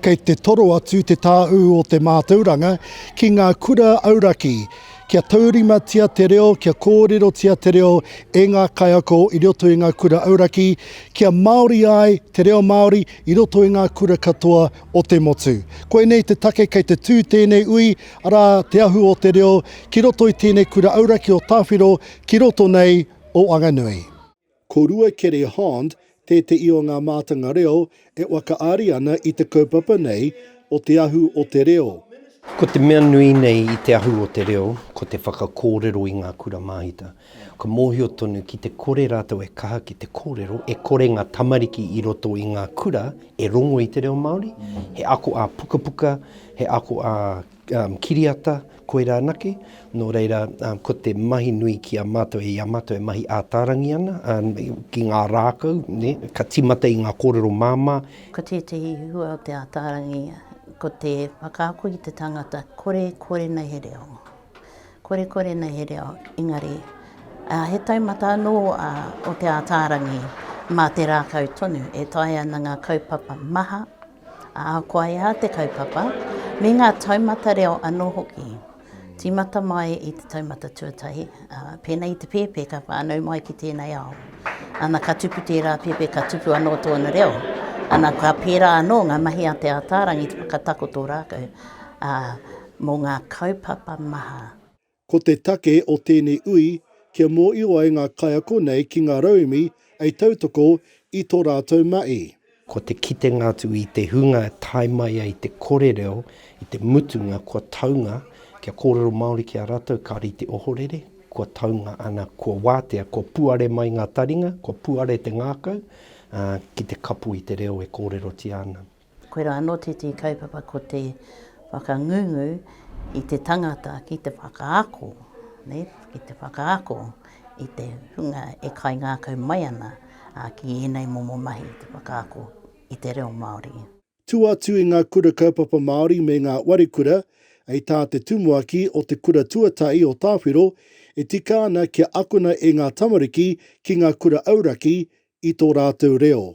Kei te toro atu te tāu o te mātauranga ki ngā kura auraki, kia taurimatia te reo, kia kōrerotia te reo e ngā kaiako i roto i ngā kura auraki, kia Māori ai te reo Māori I roto i ngā kura katoa o te motu. Koinei te take kei te tū tēnei ui, arā, Te Ahu o te Reo, ki roto i tēnei kura auraki o Tāwhiro, ki roto nei o Wanganui. Ko Ruakere Hond tēteʻi o ngā mātanga reo e whakaari ana i te kaupapa nei, O te ahu o te reo. Ko te mea nui nei i te ahu o te reo, ko te whakakōrero i ngā kura māhita. Kua mōhio tonu ki te kore rātou e kaha ki te kōrero, e kore ngā tamariki i roto i ngā kura e rongo i te reo Māori, he ako ā-pukapuka, he ako ā-kiriata, Koirā anake, nō reira, ko te mahi nui ki a mātou, i a mātou e mahi ātārangi ana, ki ngā rākau, ka tīmata i ngā kōrero māmā. Ko tētehi hua o te ātārangi, ko te whakaako i te tangata, kore, kore nei he reo. Kore, kore nei he reo, engari, he taumata anō o te ātārangi, mā te rākau tonu e taea ana ngā kaupapa maha Ā, kua ea te kaupapa, me ngā taumata reo anō hoki. Tīmata mai i te taumata tuatahi, ā, pēnei i te pēpē ka whānau mai ki tēnei ao. Ana ka tupu tērā pēpē ka tupu anō tōna reo. Ana ka pērā anō ngā mahi a Te Ātaarangi te whakatakoto rākau, ā, mō ngā kaupapa maha. Ko te take o tēnei ui kia mōio ai ngā kaiako nei ki ngā rauemi ei tautoko i tō rātou mahi. Ko te kitenga atu i te hunga e tae mai ai te kore reo i te mutunga kua taunga kia kōrero Māori ki a rātou ka rite ohorere, kua taunga ana kua wātea, kua puare mai ngā taringa, kua puare te ngākau, ā, ki te kapo i te reo e kōrerotia ana. Koirā anō tētehi kaupapa ko te whakangungu i te tangata ki te whakaako, ki te whakaako i te hunga e kaingākau mai ana ki ēnei momo mahi, te whakaako i te reo Māori. Tū atu i ngā Kura Kaupapa Māori me ngā Wari Kura, hei tā te Tumuaki o Te Kura Tuatahi o Tāwhiro, e tika ana kia akona e ngā tamariki ki ngā kura auraki i tō rātou reo.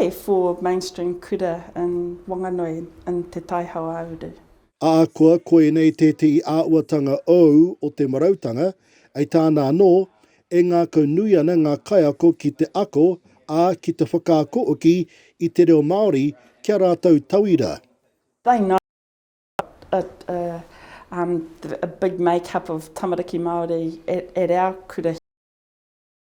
E four mainstream kura in Wanganui in Te Tai Hauāuru. Ahakoa koinei tētehi āuatanga ou o te marautanga, ei tāna anō, e ngākau nui ana ngā kaiako ki te ako, ā, ki te whakaako hoki i te reo Māori ki a rātou tauira. They know what a um a big make up of tamariki Māori at at our kura here.